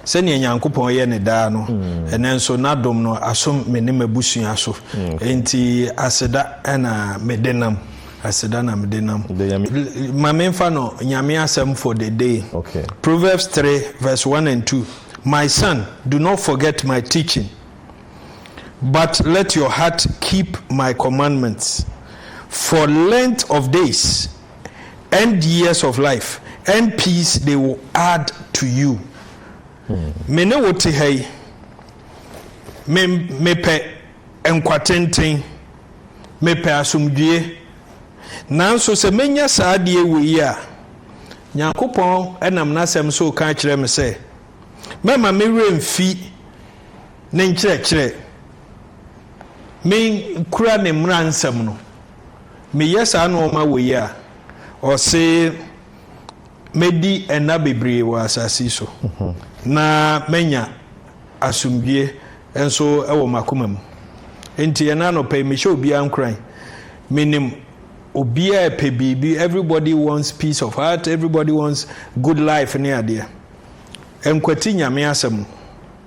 Sɛnea Nyankopɔn yɛ no daa no, ɛnnɛ nso N'adom no asom me ne m'abusua so. Enti aseda na mede nam. Aseda na mede nam. Ma memfa no Nyame asɛm for the day. Proverbs three verse one and two, My son, do not forget my teaching, but let your heart keep my commandments for length of days. and years of life and peace they will add to you me ne wo te ha yi me mepɛ nkwa tenten mepɛ asomdwie nanso sɛ menya saa adeɛ wei yi a nyankopɔn nam n'asɛm so ka kyerɛ me sɛ mɛma me werɛ mfi ne nkyerɛkyerɛ me kura ne mmara nsɛm no meyɛ saa nnoɔma wei yi a, ɔse mɛdi nna bebree wɔ asase yi so na manya asomdwie nso wɔ m'akoma mu. Nti ɛna anɔpa yi mehyɛ obiara nkuran. Menim obiara pɛ biribi, everybody wants peace of heart, everybody wants good life ne adeɛ. Nkwati Nyame asɛm.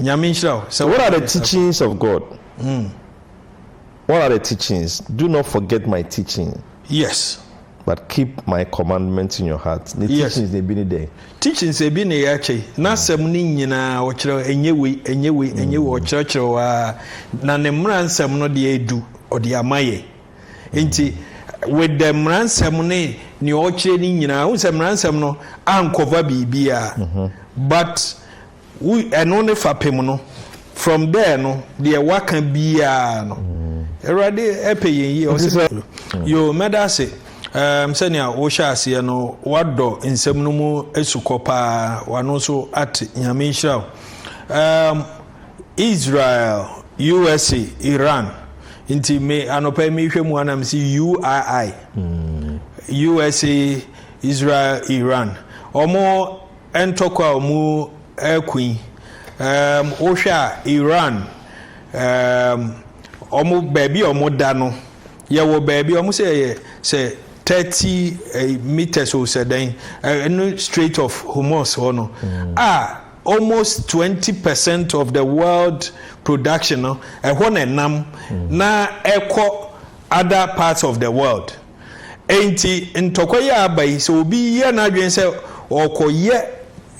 Nyame nhyira wo sɛ What are the teachings of God? What are the teachings? Do not forget my teaching. Yes. But keep my commandments in your heart. Ne teachings na ebi ne dɛn? Teachings ebi na yɛ akyɛ yi. N'asɛm ne nyinaa ɔkyerɛ ɛnyɛ wei ɛnyɛ wei ɛnyɛ wei ɔkyerɛkyerɛ wa na ne mmara nsɛm no deɛ edu ɔde ama yɛ. Nti with the mmara nsɛm ne nea ɔkyerɛ ne nyinaa, n sɛ mmara nsɛm no ankɔva biribiara but Wo ɛno ne fapem no. From there no deɛ waka biaa no Awurade ɛpɛ yɛn yie. Ɔse mɛ yoo mɛda ase um sɛnea wo hyɛ aseɛ no wadɔ nsɛm no mu asukɔ paa wano nso ate Nyame nhyira wo um Israel usa Iran nti me anɔpa yi mehwɛ mu ana mese UII usa Israel Iran ɔmo Ntɔkwa a wɔreko yi, um wohwɛ a Iran, um wɔn baabi a wɔda no, yɛwɔ baabi a wɔn sɛ yɛ sɛ thirty eh, meters o sɛ dɛn, ɛno eh, Strait of Hormuz hɔ no, mm. a almost twenty percent of the world production no ɛhɔ na ɛnam mm. na ɛkɔ other parts of the world. Enti, ntɔkwa yi a aba yi, sɛ obi yɛ n'adwene sɛ ɔrekɔyɛ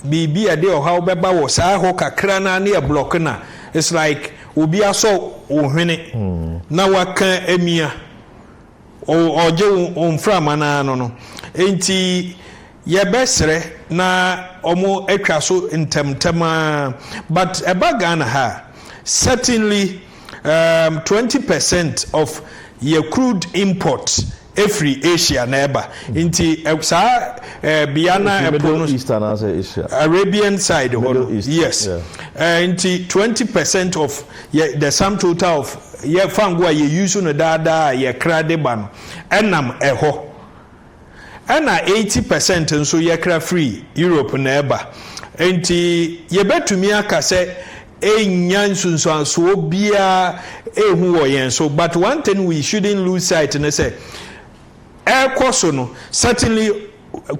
biribi a ɛde ɔhaw bɛba wɔ saa hɔ kakra no ara ne ɛblɔke no a, it's like obi asɔ wo hwene na waka amia, ɔ, ɔregye wo mframa no ara no no. Enti, Yɛbɛsrɛ na ɔmo atwa so ntɛm ntɛm ara but ɛba Ghana ha a certainly um twenty percent of yɛ crude import ɛfiri Asia na ɛba nti saa eh bea na Ɛfiri ɛpo no Middle East anaasɛ Asia? Arabian side hɔ no Middle East, yes yeah. eh nti twenty percent of yɛ the sum total of yɛ fango a yɛ use no daa daa a yɛkra de ba no ɛnam ɛhɔ. ɛna eighty percent nso yɛkra firi Europe na ɛba. Enti yɛbɛtumi aka sɛ ɛnnya nsunsuansoɔ biara ɛhu wɔ yɛn so but one thing we shouldn't lose sight ne sɛ ɛrekɔ so no certainly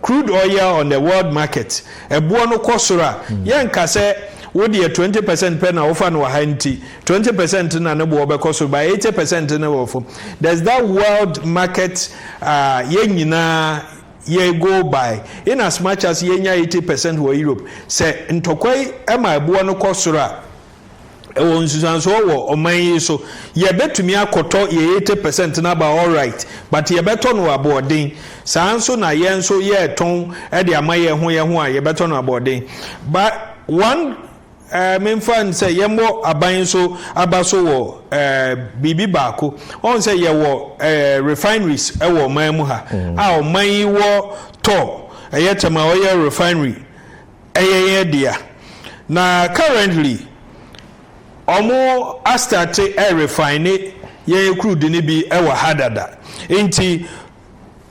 crude oil on the world market ɛboɔ no kɔ soro a yɛnka sɛ wodeɛ twenty percent pɛ na wofa no wɔ ha nti Twenty percent na ne boɔ bɛkɔ soro but eighty percent no wɔ fam. There's that world market a yɛn nyinaa yɛ go by. In as much as yɛnya eighty percent wɔ Europe, sɛ ntɔkwa yi ma ɛboɔ no kɔ soro a, ɛwɔ nsusuansoɔ wɔ ɔman yi so. Yɛbɛtumi akɔtɔ yɛn eighty percent no aba alright but yɛbɛtɔ no wɔ aboɔden. Saa nso na yɛn nso yɛretɔn de ama yɛn ho yɛn ho a yɛbɛtɔ no aboɔden. But one Ɛɛ, memfa no sɛ yɛmmɔ aban nso aba so wɔ ɛɛ biribi baako. Wɔn sɛ yɛwɔ ɛɛ refineries wɔ ɔman mu ha mm. a ɔman yi wɔ tɔ ɛyɛ tɛma ɔyɛ refinery ɛyɛ yɛn dea na currently wɔn astate ɛɛ refine yɛn kurudi no bi ɛwɔ ha dada nti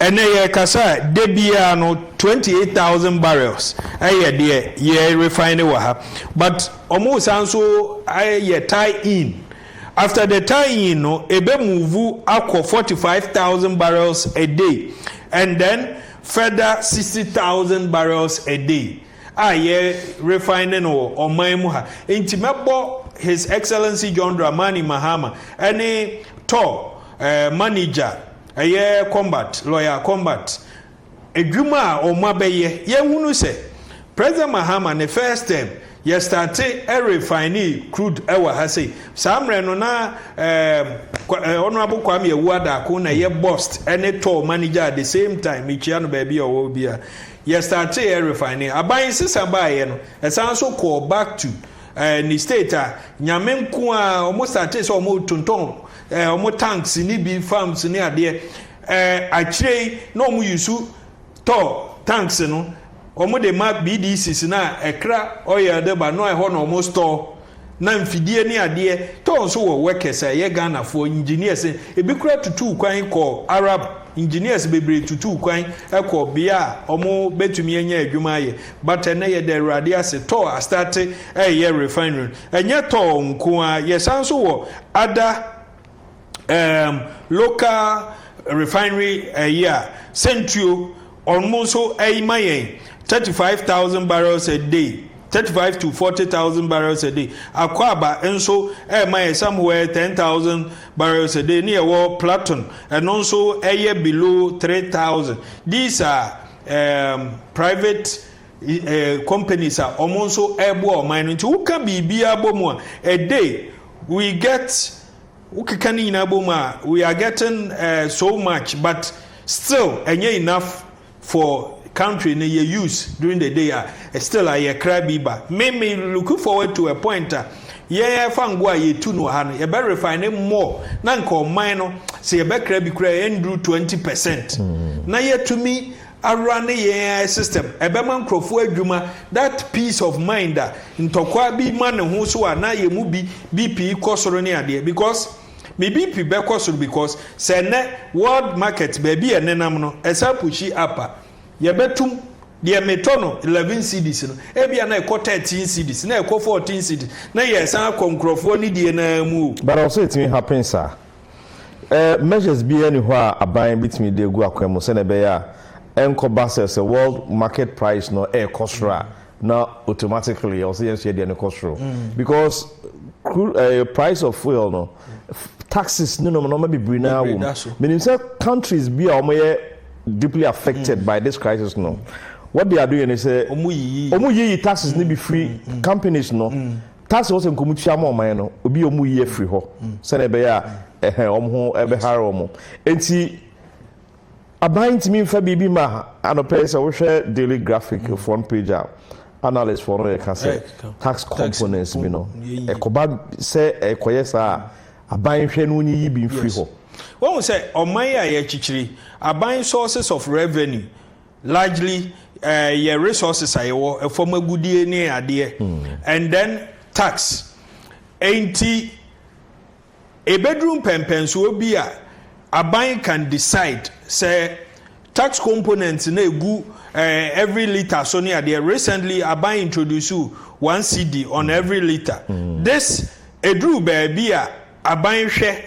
Ɛnnɛ yɛrekasa a, da biara no, 28,000 barrels yɛ deɛ yɛ refine wɔ ha. But wɔresan nso ayɛ tie in. After the tie in no, ɛbɛ move akɔ 45,000 barrels a day and then further 60,000 barrels a day a yɛ refine no wɔ ɔman mu ha. Nti mɛbɔ His Excellency John Dramani Mahama ne Tor eh, manager Ɛyɛ combat lawyer combat adwuma a wɔn abɛyɛ. Yɛhunu sɛ President Mahama ne first term yɛ starte refine crude ɛwɔ ha sei. Saa mmerɛ no na ɛɛ Honourable Kwame Awuah Darko na ɛyɛ bost ɛne tour manager at the same time. Mekyia no baabi a ɔwɔ bi a. Yɛ starte refine. Aban nsesa baeɛ no ɛsan nso kɔɔ back to ɛɛ ne state a nyame nko a wɔn starte sɛ wɔn tontɔn. eh, ɔmo tanks ne bi farms ne adeɛ eh, akyire yi na ɔmo yusu tɔ tanks no ɔmo de ma BDCs na ɛkra oil de ba no ɛhɔ na ɔmo store na mfidie ne adeɛ tɔɔ nso wɔ workers a ɛyɛ Ghanafoɔ engineers ebi kura tutuu kwan kɔ Arab engineers bebree tutuu kwan kɔ bea a ɔmo betumi anya adwuma ayɛ but ɛnɛ yɛda awurade ase tɔɔ astate ɛyɛ refinery ɛnyɛ tɔɔ nko a yɛsan nso wɔ Ada um local refinery ɛyi a sɛntuo ɔno nso ɛyi ma yɛn thirty five thousand barrels a day thirty five to forty thousand barrels a day akwaaba nso ɛma yɛ somewhere ten thousand barrels a day ne yɛwɔ platon ɛno nso ɛyɛ below three thousand these are um, private uh, companies a wɔn nso ɛboa ɔman no nti woka biribi abɔ mu a a day. we get wo keka ne nyinaa bom a we are getting uh, so much but still ɛnyɛ enough for country no yɛ use during the day a still a yɛkra bi ba me me looking forward to a point a yɛfa ngo a yɛtu no ha no yɛbɛ refine more na nka ɔman no sɛ yɛbɛkra bi koraa ɛnduru 20 percent mm. na yɛtumi awora ne yɛn ara system ɛbɛma nkurɔfoɔ adwuma that peace of mind a ntɔkwaa bi ma ne ho so a na yɛn mu bi BP kɔ soro ne adeɛ because me BP bɛkɔ soro because sɛ ɛnɛ world market baabi a ɛnenam no ɛsan pushi up a yɛbɛtum deɛ metɔ no eleven cedis no ebia na ɛkɔ thirteen cedis na ɛkɔ fourteen cedis na yɛsan akɔ nkurɔfoɔ ne die no ara mu o. But ɔsɛ ɛtumi happen saa. Ɛɛ, measures biara nni hɔ a aban betumi de agu akwan mu sɛnea ɛbɛyɛ a ɛnkɔba sɛ sɛ world market price no rekɔ soro a na automatically ɛwɔ sɛ yɛn nso yɛn deɛ no kɔ soro because crude ɛɛ price of fuel no taxes ne nom nneɛma bebree na awɔ mu menim sɛ countries bi a wɔyɛ deeply affected by this crisis no wɔde ado yɛ ne sɛ wɔn yiyi taxes no bi firi companies no. Tarso hɔ sɛ nka wɔtua ma ɔman no, obi a wɔyi afiri hɔ sɛdeɛ ɛbɛyɛ a ɛhɛn wɔn ho bɛhare wɔn. Enti aban ntumi mfa biribi ma anɔpɛ yi sɛ wohwɛ Daily Graphic front page a analyst foɔ no yɛka sɛ tax components bi no ɛkɔba sɛ ɛkɔyɛ saa a aban hwɛ no wonyiyi bi mfiri hɔ. Wahu sɛ ɔman a yɛkyekyere aban sources of revenue Largely eh, yɛ resources a yɛwɔ, ɛfam agudie ne adeɛ, mm. and then tax. Enti, ɛbɛduru mpɛmpɛnsoɔ bi a, aban can decide sɛ tax components na ɛgu eh, every liter so ne adeɛ. Recently, aban introduce one CD on every liter. Mm. This, ɛduru baabi a, aban hwɛ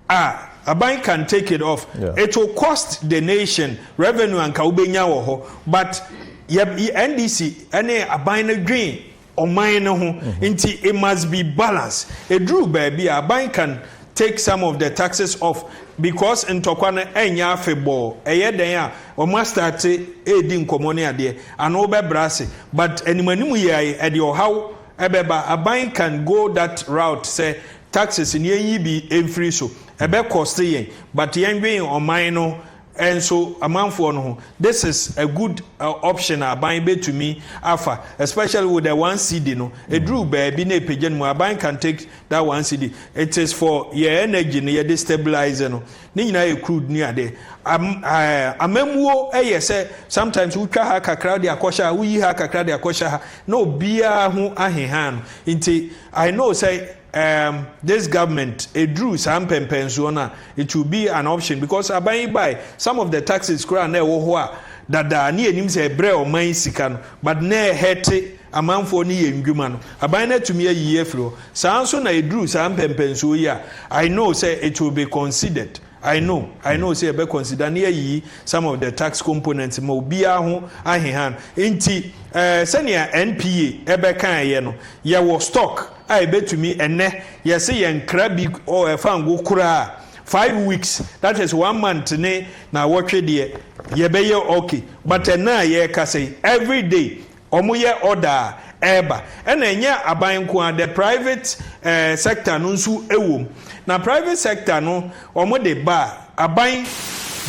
Ah aban can take it off yeah. it will cost the nation revenue anka wobɛnya wɔ hɔ but yɛ ndc ɛne aban no dwen ɔman no ho mm-hmm. nti it must be balance ɛduru baabi a aban can take some of the taxes off because ntɔkwa no ɛnyɛ afebɔɔ ɛyɛ dɛn a wɔn astate ɛredi nkɔmmɔ ne adeɛ ano bɛbrɛ ase but animanim yɛ ɛde ɔhaw ɛbɛba aban can go that route sɛ Taxes no yɛn yi bi mfiri so ɛbɛ cost yɛn but yɛn dwen ɔman no nso amanfoɔ no ho this is a good option a aban bɛtumi afa especially with the one cedi no ɛduru baabi na ɛpagya no mu aban can take that one cedi it is for yɛn energy no yɛde stabilize no ne nyinaa yɛ crude ne adeɛ am, eh, amammuo ɛyɛ sɛ sometimes wotwa ha kakra de akɔhyɛ ha woyi ha kakra de akɔhyɛ ha na obiara ho aheha no nti I know sɛ um this government eduru saa mpɛmpɛnsoɔ no a it will be an option because aban yi bae some of the taxes koraa na ɛwɔ hɔ a dada ne yɛnim sɛ ɛbrɛ ɔman yi sika no but na ɛhɛte amanfoɔ ne yɛn ndwuma no aban no atumi ayiyi afiri hɔ saa nso na eduru saa mpɛmpɛnsoɔ yi a I know sɛ it will be considered. I know I know sɛ yɛbɛ consider ne yɛayiyi some of the tax components ma obiara ho ahehan nti eh, sɛnea NPA ɛbɛ kaeɛ no yɛwɔ stock a ɛbɛtumi ɛnɛ yɛse yɛnkra bi oh, ɛfa ngo koraa five weeks that is one month ne na wɔtwe deɛ yɛbɛyɛ okay but ɛna a yɛrekasa yi every day wɔyɛ order a ɛreba ɛna ɛnyɛ aban nko ara the private eh, sector no nso ɛwom na private sector no wɔn de ba a aban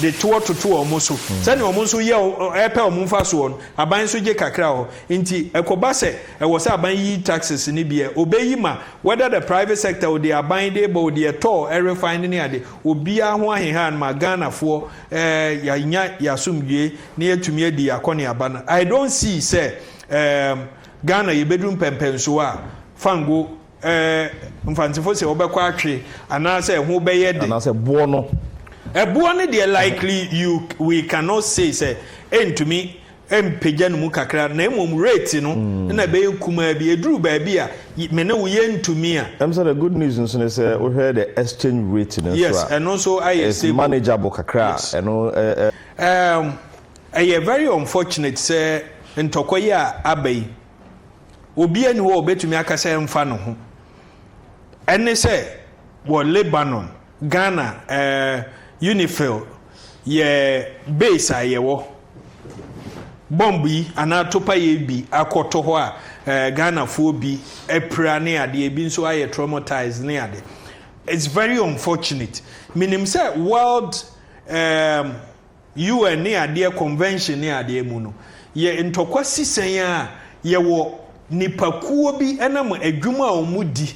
de toɔ toto wɔn so mm. sɛnea wɔn nso yɛ ɛpɛ wɔn nfa soɔ no aban nso gye kakra hɔ nti ɛkɔba sɛ ɛwɔ sɛ aban yi taxes ne bi ɛ obeyi ma whether the private sector o de aban de bɔ o de ɛtɔɔ ɛrefan ne ne ade obiara ho ahehan ma ghanafoɔ ɛɛ yanya yasomdue na yɛatumi adi akɔneaba no I don't see sɛ ehm Ghana yɛbɛduru mpɛmpɛnsoɔ a fango eh mfantsefo sɛ wɔbɛkɔ atwe anaasɛ ɛho bɛyɛ de. Anaasɛ boɔ no. Ɛboɔ no deɛ likely you we cannot say sɛ ɛntumi mpagya ne mu kakra na mmom rate no na ɛbɛyɛ kumaa bi ɛduru baabi a me ne wo yɛntumi a. Ɛm sɛ the good news nso ne sɛ wohwɛ the exchange rate no nso a yes ɛno nso ayɛ stable it's manageable kakra a ɛno eh eh. Erm ɛyɛ very unfortunate sɛ ntɔkwa yi a aba yi obia ni hɔ a obetumi aka sɛ ɛmfa ne ho. Ɛne sɛ wɔ Lebanon, Ghana eh, Unifil yɛ base a yɛwɔ. Bɔmb yi anaa atopaeɛ bi akɔto hɔ a eh, Ghanafoɔ bi apira ne adeɛ, ebi nso ayɛ traumatized ne ade. It's very unfortunate. Menim sɛ World Erm, UN ne adeɛ convention ne adeɛ mu no, yɛ ntɔkwa si sɛn a, yɛwɔ nipakuo bi ɛnam adwuma a wɔn di,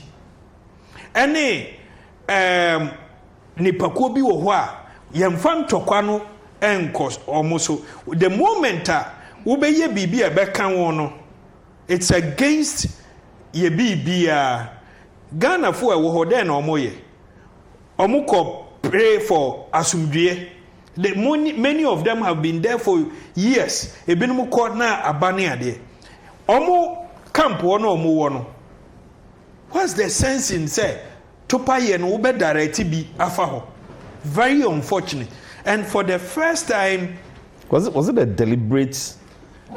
ɛne erm nipakuo bi wɔ hɔ a, yɛnfa ntɔkwa no nkɔ wɔn so. The moment a wobɛyɛ biribi a ɛbɛka wɔn no, it's against yɛ biribiara. Ghanafoɔ a ɛwɔ hɔ, dɛn na wɔyɛ? Ɔmo kɔ pray for asomdwie the moni many of them have been there for years ebinom kɔ na aba ne adeɛ ɔmo camp hɔ na ɔmo wɔ no what's the sense in sɛ topa yɛ no wobɛ direct bi afa hɔ very unfortunate and for the first time Was it, was it a deliberate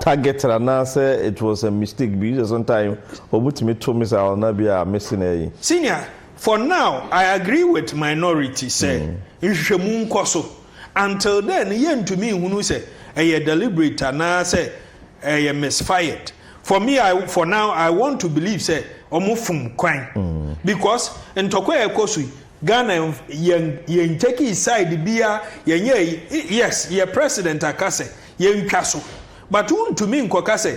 Targeted anaasɛ it was a mistake bi sɛ sometime ɔmo tumi to missile na bi a miss na ɛyi. Senior, for now I agree with minority sɛ nhwehwɛmu nkɔ so, until then no yɛn ntumi nhunu sɛ ɛyɛ deliberate anaa sɛ ɛyɛ misfired, for me I for now I want to believe sɛ ɔmo fom kwan because ntɔkwa a ɛkɔ so yi Ghana yɛn yɛn ntakii side biaa yɛnyɛɛ yes yɛ president aka sɛ yɛntwa so but wontumi nkɔka sɛ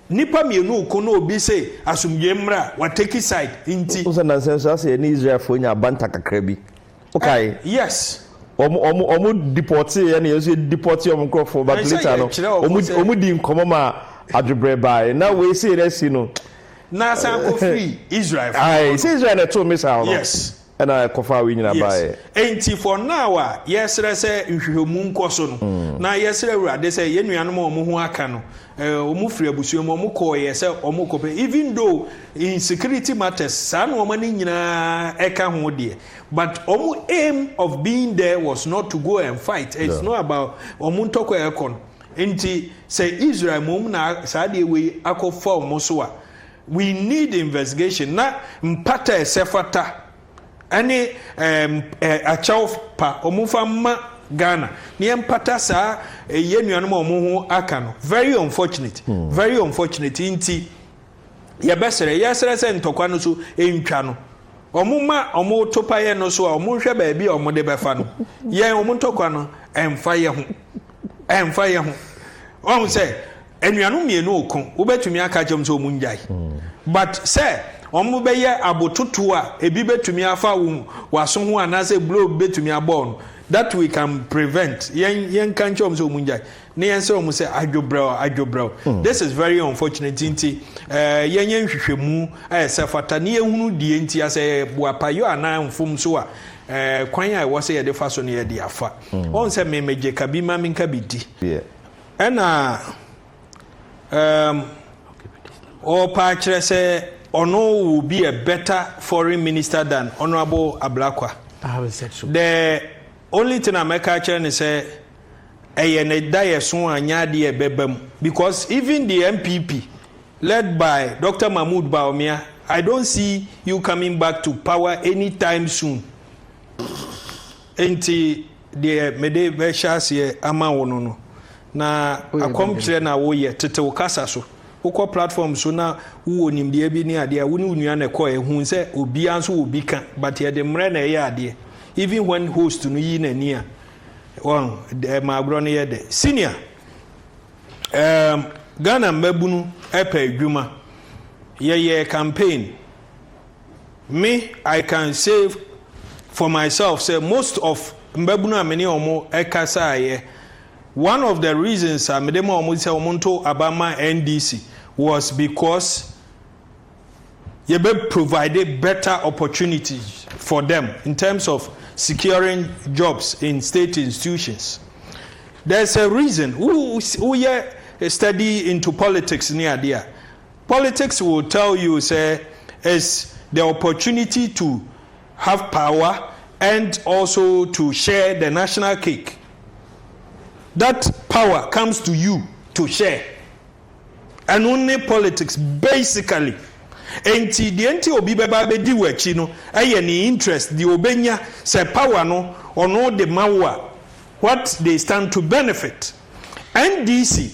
nnipa mmienu reko na obi se asomdwoe mmra a wa take side nti. Wohu sɛ nnansa yi so asɛ yɛne Israelfoɔ anya abanta kakra bi. Wokae? Eh, yes. Wɔn wɔn wɔn depɔtee yɛn na yɛn nso yɛ depɔte wɔn nkorɔfoɔ but Ɛnsɛ later no yɛkyerɛ wɔn wɔn sɛ- wɔn di nkɔmɔ ma adwebrɛ baae na wei sei na asi no. Na asan kɔ firi Israelfoɔ Ae, hɔ sɛ no. Israel na ɛtoo missile no. Yes. Ɛna ɛkɔfaa wei nyina baeɛ. Yes. Enti for now a yɛsrɛ sɛ nhwehwɛmu nkɔ so no, mm. na yɛsrɛ Awurade sɛ yɛn nuanom a wɔn ho aka no, eh, wɔn firi abusua mu, wɔn kɔɔyɛ sɛ wɔn kɔpɛ, even though in security matters, saa nneɛma no nyinaa ɛka ho deɛ, but wɔn aim of being there was not to go and fight. It's yeah. not about wɔn ntɔkwa ɛkɔ no. Nti sɛ Israel mmom na saa deɛ wei akɔfa wɔn so a, We need investigation na mpata a ɛsɛ fata ɛne ɛɛm ɛɛ akyɛw pa ɔmo fa mma Ghana na yɛ mpata saa ɛɛ yɛ nuanom a ɔmo ho aka no very unfortunate very unfortunate nti yɛ bɛ srɛ yɛ srɛ sɛ ntɔkwa no so ntwa no ɔmo ma ɔmo to pa yɛ no so a ɔmo nhwɛ baabi a ɔmo de bɛfa no yɛn ɔmo ntɔkwa no ɛnfa yɛ ho ɛnfa yɛ ho ɔmo sɛ. Anuanom mmienu reko, wobɛtumi aka kyerɛ wɔn sɛ wɔnnyae. But sɛ wɔbɛyɛ abototoɔ a ebi bɛtumi afa wo w'aso ho anaasɛ blow bi bɛtumi abɔ wo no, that we can prevent. Yɛn yɛnka nkyerɛ wɔn sɛ wɔnnyae na yɛnsrɛ wɔn sɛ adwobrɛ o, adwobrɛ o. Mm. This is very unfortunate nti ɛɛ eh, yɛnyɛ nhwehwɛmu a ɛsɛ fata ne yɛhunu deɛ nti asɛ boapayɔ anaa mfomso a ɛɛ eh, kwan a ɛwɔ sɛ yɛde fa so no yɛde afa. Mm. Wɔn sɛ mmemmegye ka bi ma menka bi di. Yeah. Ɛna um, ɔɔpa akyerɛ sɛ ɔno will be a better foreign minister than Honourable Ablakwa. I haven't said so. The only thing a mɛka akyerɛ ne sɛ ɛyɛ ne da yɛ so a nyɛ adeɛ ɛbɛba mu because even the NPP led by Dr. Mahmoud Bawumia I don't see you coming back to power anytime soon. Nti Deɛ mede bɛhyɛ aseɛ ama wo no no, na akɔmkyerɛ na woyɛ, tete wo kasa so. Wokɔ platform so na wowɔ nimdeɛ bi ne adeɛ a, wo ne wo nua na ɛkɔɛ. Hu sɛ obiara nso wɔ bi ka, but yɛde mmerɛ na ɛyɛ adeɛ. Even when host no yi n'ani a, wɔn, ɛma agorɔ no yɛ dɛ. Senior, um, Ghana mmabunu pɛ adwuma. Yɛyɛɛ campaign. Me I can say for myself sɛ most of mbabunu a me ne wɔn kasaeɛ, one of the reasons a mede ma wɔn sɛ wɔn nto aba ma NDC was because yɛbɛ provide better opportunities for them in terms of securing jobs in state institutions. There's a reason, wo woyɛ study into politics ne adeɛ a, Politics will tell you sɛ is the opportunity to have power and also to share the national cake that power comes to you to share ɛno ne politics basically enti deɛ nti obi bɛba bɛdi wo akyi no ɛyɛ ne interest deɛ obɛnya sɛ power no ɔno de ma wo a what they stand to benefit NDC.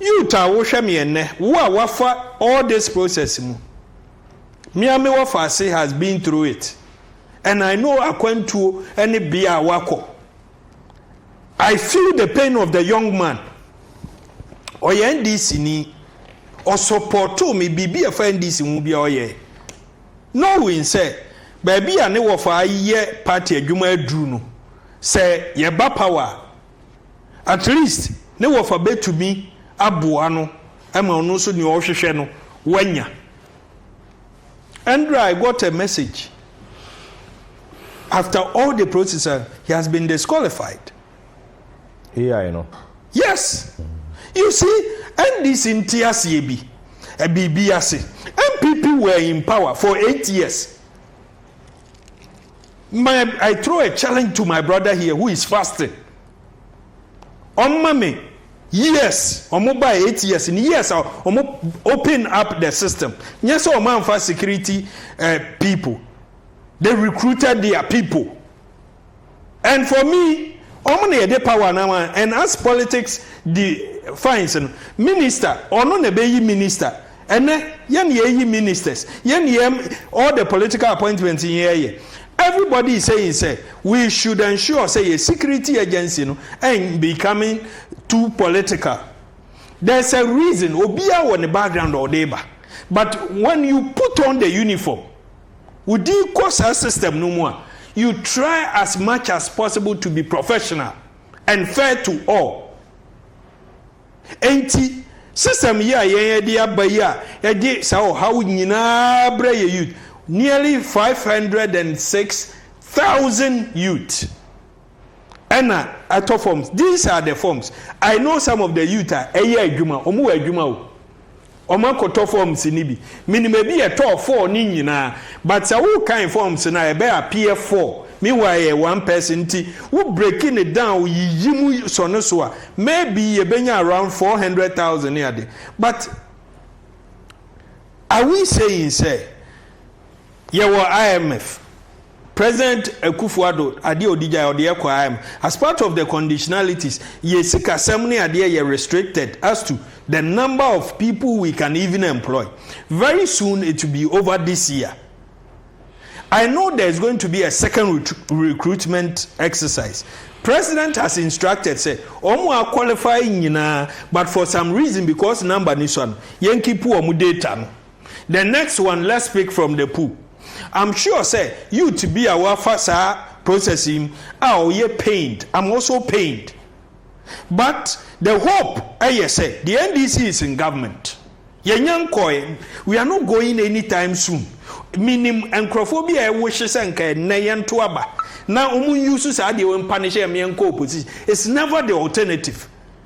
Youth a wohwɛ me ɛnnɛ, wo a woafa all this process mu, me a me wɔfaase has been through it and I know akwantuo ne bea a woakɔ. I feel the pain of the young man, ɔyɛ NDC ni, ɔsɔpɔtoo me biribi a ɛfa NDC ho biara ɔyɛe, knowing sɛ baabi a ne wɔfaa yɛ party adwuma aduru no, sɛ yɛba power a, At least ne wɔfa bɛtumi aboa no ma ɔno nso nea ɔrehwehwɛ no wanya. Ɛndra I got a message after all the process and he has been disqualified. AI no? Yes! You see, NDC nte aseɛ bi, biribi ase. NPP were in power for eight years. My I throw a challenge to my brother here who is fasting. Ọma me years ọmụ ba eight years ni years a ọmụ open up the system. Nye sɛ ọmụ anfa security uh, people. They recruited their people. And for me, ọmụ na yɛde power na ma. And as politics defines no, minister, ɔno na ɛbɛyi minister. Ɛnɛ yɛ na yɛ yi ministers, yɛ na yɛ all the political appointment yi yɛ yɛ. Everybody is saying sɛ we should ensure sɛ yɛ security agency no en becoming too political. There is a reason, obiara wɔ ne background a ɔde ba. But when you put on the uniform, wo di kɔ saa system no mu a, you try as much as possible to be professional and fair to all. Enti, system yi a yɛn ɛde aba yi a ɛde saa ɔhaw nyinaa brɛ yɛn youth, nearly five hundred and six thousand youth ɛna atɔ forms, these are the forms, I know some of the youth a ɛyɛ adwuma, wɔn wɔ adwuma o. Wɔn akɔtɔ forms no bi. Menim ebi yɛ tɔɔ four ne nyinaa. But sɛ wo kan forms no a ɛbɛ appear four. Meanwhile ɛyɛ one person nti wo break no down yiyi mu sɔ no so a maybe yɛbɛnya around four hundred thousand ne ade. But are we saying sɛ. Yɛwɔ IMF. President Akufo Addo adeɛ a ɔdi gyae ɔde yɛ kɔ IMF. As part of the conditionalities, yɛ sikasɛm ne adeɛ yɛ restricted as to the number of people we can even employ. Very soon it will be over this year. I know there is going to be a second recruitment exercise. President has instructed sɛ wɔn a qualify nyinaa but for some reason because number ni so no, yɛn keep wɔn data no. The next one let's pick from the pool I'm sure sɛ youth bi a wafa saa process yi a ɔyɛ pained I'm also pained but the hope ɛyɛ sɛ the NDC is in government yɛnya nkɔɛ we are not going anytime soon menim nkurɔfoɔ bi a ɛwohye sɛ nka ɛnnɛ yɛnto aba na wɔn nyi so saa deɛ wɔn mpa ne hyɛ yɛn nkɔ opposition it's never the alternative.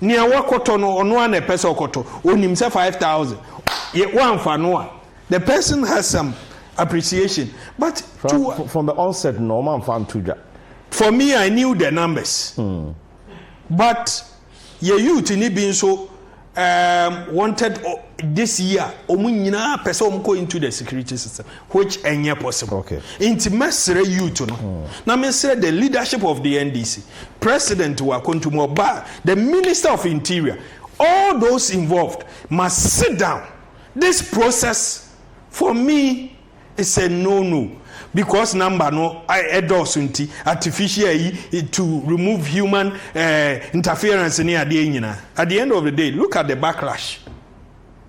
Nea wakɔtɔ no, ɔno ara na ɛpɛ sɛ ɔkɔtɔ. Onim sɛ five thousand. Yɛ wamfa no a, the person has some appreciation. But from, to uh, from the onset, no, man fan to dwa. For me, I knew the numbers. Mm. But yɛ youth ni bi nso um, wanted uh, this year. Wɔn nyinaa pɛ sɛ wɔn kɔ into the security system. which ɛnyɛ possible okay. nti mɛsrɛ youth no hmm. na mesrɛ the leadership of the NDC president wɔ akwantu mu ɔbaa the minister of interior all those involved must sit down this process for me is a no no because number no ɛdɔɔso nti artificial yi to remove human uh, interference ne adeɛ nyinaa at the end of the day look at the backlash